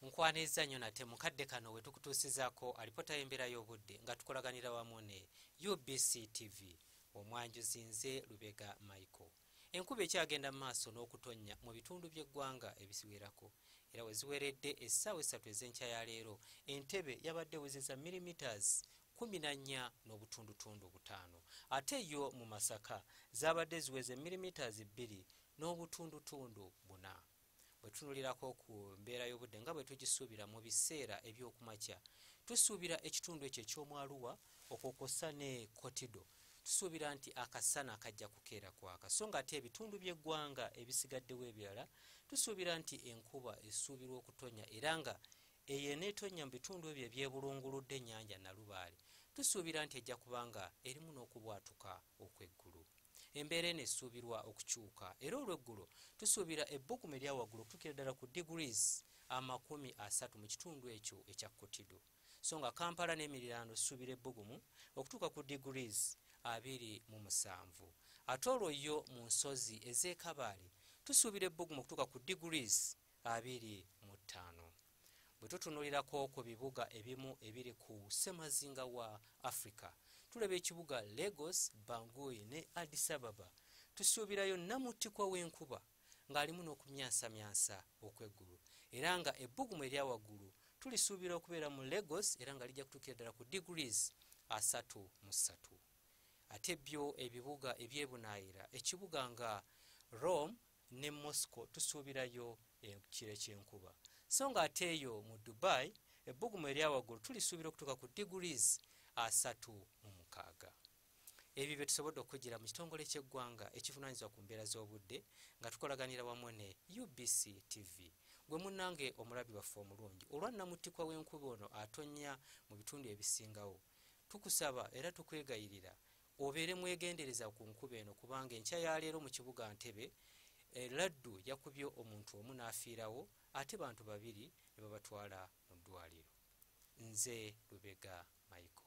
nkwaniriza nnyo nate mukadde kano we tukutuusizaako alipota y'embeera y'obudde nga tukolaganira wamu ne ubc tv omwanjuzi nze lubega michael enkuba ekyagenda mu maaso n'okutonnya mu bitundu by'eggwanga ebisiwerako era we ziweredde essaawa essatu ez'enkya ya leero entebe yabadde wezeza millimeters kumi na nnya n'obutundutundu butaano ate yo mu masaka zaabadde ziweze millimeters bbiri N'obutundutundu buna. Bwe tutunulirako ku mbeera y'obudde nga bwe tugisuubira mu biseera eby'okumakya, tusuubira ekitundu ekyo eky'omwaluwa okwo kwossa ne kotido tusuubira nti akasana kajja kukeera kwaka so nga ate ebitundu by'eggwanga ebisigaddewo ebirala tusuubira nti enkuba esuubirwa okutonya era nga eyo eneetonya mu bitundu ebyo ebyebulunguludde ennyanja nalubaale tusuubira nti ejja kubanga erimu n'okubwatuka okw'eggulu embeera eno esuubirwa okukyuka era olweggulo tusuubira ebbugumu eryawaggulu okutukira ddala ku degrees amakumi asatu mu kitundu ekyo ekya kotido so nga kampala n'emiriraano suubira ebbugumu okutuuka ku degrees abiri mu musanvu ate olwo yo mu nsozi ez'ekabaale tusuubira ebbugumu okutuuka ku degrees abiri mu ttaano bwe tutunulirako ku bibuga ebimu ebiri ku ssemazinga wa africa tulaba ekibuga lagos bangui ne adisababa tusuubirayo namutikwa w'enkuba ng'alimu n'okumyansamyansa okw'eggulu era nga ebbugumu erya waggulu tulisuubira okubeera mu lagos era nga lijja kutuukira ddala ku degrees asatu mu ssatu ate byo ebibuga ebyebunaayira ekibuga nga rome ne moscow tusuubirayo ekiro ekyenkuba so nga ate eyo mu dubai ebbugumu eryawaggulu tulisuubira okutuuka ku degrees asatu mu mukaaga ebyo bye tusobodde okukugira mu kitongole ky'eggwanga ekivunaanyizibwa ku mbeera z'obudde nga tukolaganira wamu ne ubc tv gwe munnange omulabi waffe omulungi olwa nnamuttikwa w'enkuba ono atonnya mu bitundu ebisingawo tukusaba era tukwegayirira obeere mwegendereza ku nkuba eno kubanga enkya ya leero mu kibuga ntebe eh, laddu yakubye omuntu omu n'afiirawo ate bantu babiri ne babatwala mu ddwaliro nze lubega michael